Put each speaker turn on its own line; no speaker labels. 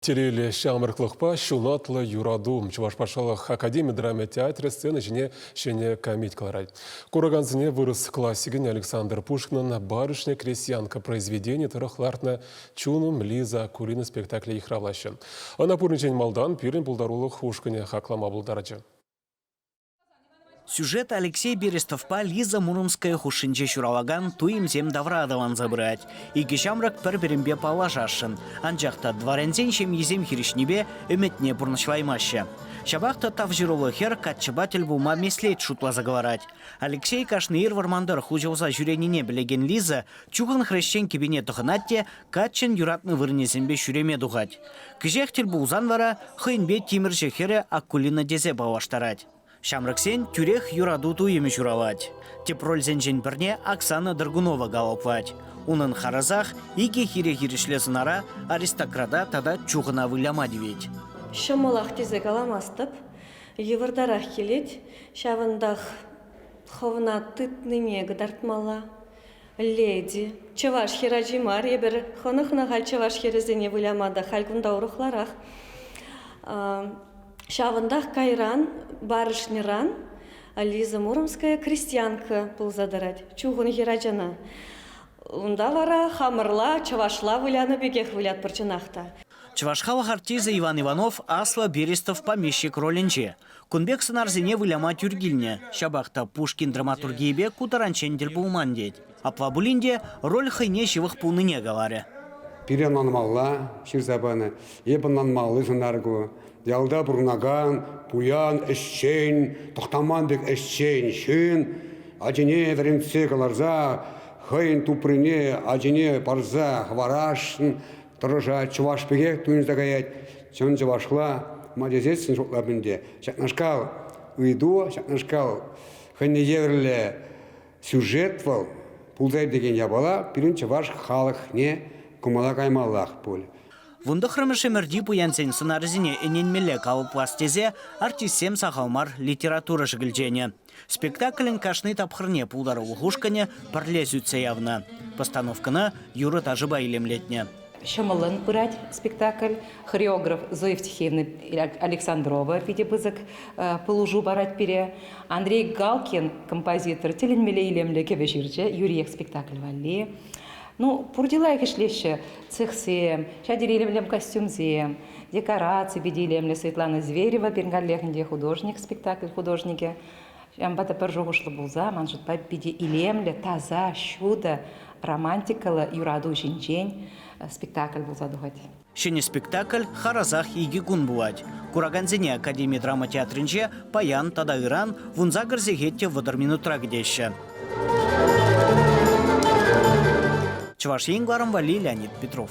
Тиреле ҫамрӑклӑхпа ҫунатлӑ юрату Чӑваш патшалӑх академи драма театрӗ сцена ҫине ҫӗнӗ комеди кӑларать. Куракансене вырӑс классикӗн Александр Пушкинӑн «Барышня крестьянка» произведени тӑрӑх лартнӑ «Чунум Лиза» кулинӑ спектакле йыхравлаҫҫӗ. Ӑна пуринчен малтан пирӗн пултарулӑх ушкӑнӗ хаклама пултарчӗ.
Сюжет Алексей Берестовпа Лиза Муромская хушшинче ҫуралакан туйӑмсем тавра аталанса пырать. Икӗ ҫамрӑк пӗр-пӗринпе паллашасшӑн, анчах та дворянсен ҫемйисем хирӗҫнипе ӗмӗтне пурнӑҫлаймаҫҫӗ. Ҫапах та тавҫӑруллӑ хӗр каччӑпа тӗл пулма меслет шутласа кӑларать. Алексей кашни ир вӑрмантӑр хуҫӑлса ҫӳренине пӗлекен Лиза чухӑн хресчен кӗпине тӑхӑнать те Каччӑн юратнӑ вырӑнӗсемпе ҫӳреме тухать. Кӗҫех тӗл пулсан вара хӑйӗнпе тимӗрҫӗ хӗрӗ Акулина тесе паллаштарать. Ҫамрӑксен тӳрех юрату туйӑмӗ ҫуралать. Тӗп рольсенчен пӗрне Оксана Драгунова калӑплать. Унӑн харӑсах икӗ хире-хирӗҫле сӑнара аристократа тата чухӑна выляма тивет. Ҫӑмӑлах
тесе каламастӑп, йывӑртарах килет. Ҫавӑнтах хӑвна тытнине кӑтартмалла. Леди, чӑваш хӗр ачи мар эпир. Хӑнӑхнӑ-ха чӑваш хӗрӗсене выляма та халь кунта урӑхларах. Ҫавӑнтах кайран барышньӑран Лиза Муромская крестьянка пулса тӑрать чухӑн хӗр ачана. Унта вара хамӑрла чӑвашла вылянӑ пекех вылятпӑр чӑнах та. Чӑваш халӑх
артисчӗ Иван Иванов Аслӑ Берестов помещик ролӗнче. Кун пек сӑнарсене выляма тӳр килнӗ. Ҫапах та Пушкин драматургийӗпе ку таранччен тӗл пулман тет. Апла пулин те роль хӑйне ҫывӑх пулнине каларӗ. Пире ӑнланмалла
ҫырса панӑ. Эп ӑнланмалли сӑнар ку. Ялта пурӑнакан, пуян ӗҫчен, тӑхтаман пек ӗҫчен ҫын ачине вӗрентсе кӑларса хӑйӗн туприне ачине парса хӑварасшӑн Тӑрӑша чӑваш пекех туйӑнса каять. Чӑн чӑвашла ма тесессӗн шутлап ӗнтӗ. Ҫакнашкал ыйту, ҫакнашкал хӑйне евӗрлӗ сюжет вӑл пултарать текен япала пирӗн чӑваш халӑхне кӑмӑла каймаллах пуль. Вунтӑхрӑмӗш
ӗмӗрти пуянсен сӑнарӗсене ӗненмелле калӑплас тесе артистсем сахал мар литература шӗкӗлченӗ. Спектаклӗн кашни тапхӑрне пултарулӑх ушкӑнӗ пӗрле сӳтсе явнӑ. Постановкӑна юрӑ-ташӑпа илемлетнӗ. Ҫӑмӑллӑн пырать
спектакль. Хореограф Зоя Евтихеевна Александрова питӗ пысӑк пулӑшу парать пире. Андрей Галкин композитор тӗлӗнмелле илемлӗ кӗвӗ ҫырчӗ юриех спектакль валли. Ну, пур чылаях ӗҫлеҫҫӗ цехсем, ҫав тери илемлӗ костюмсем. декораци питӗ илемлӗ Светлана Зверева пирӗн каллехӗнче художник спектакль художникӗ ҫавӑнпа та пӗр шухӑшлӑ пулса ман шутпа питӗ илемлӗ таса ҫутӑ романтикӑллӑ юрату ҫинчен спектакль пулса тухать. Ҫӗнӗ спектакль
харасах икӗ кун пулать. Куракансене Академи драма театрӗнче паян тата ыран вунса кӗр сехет те вӑтӑр минутра кӗтеҫҫӗ. Чӑваш Ен валли Леонид Петров.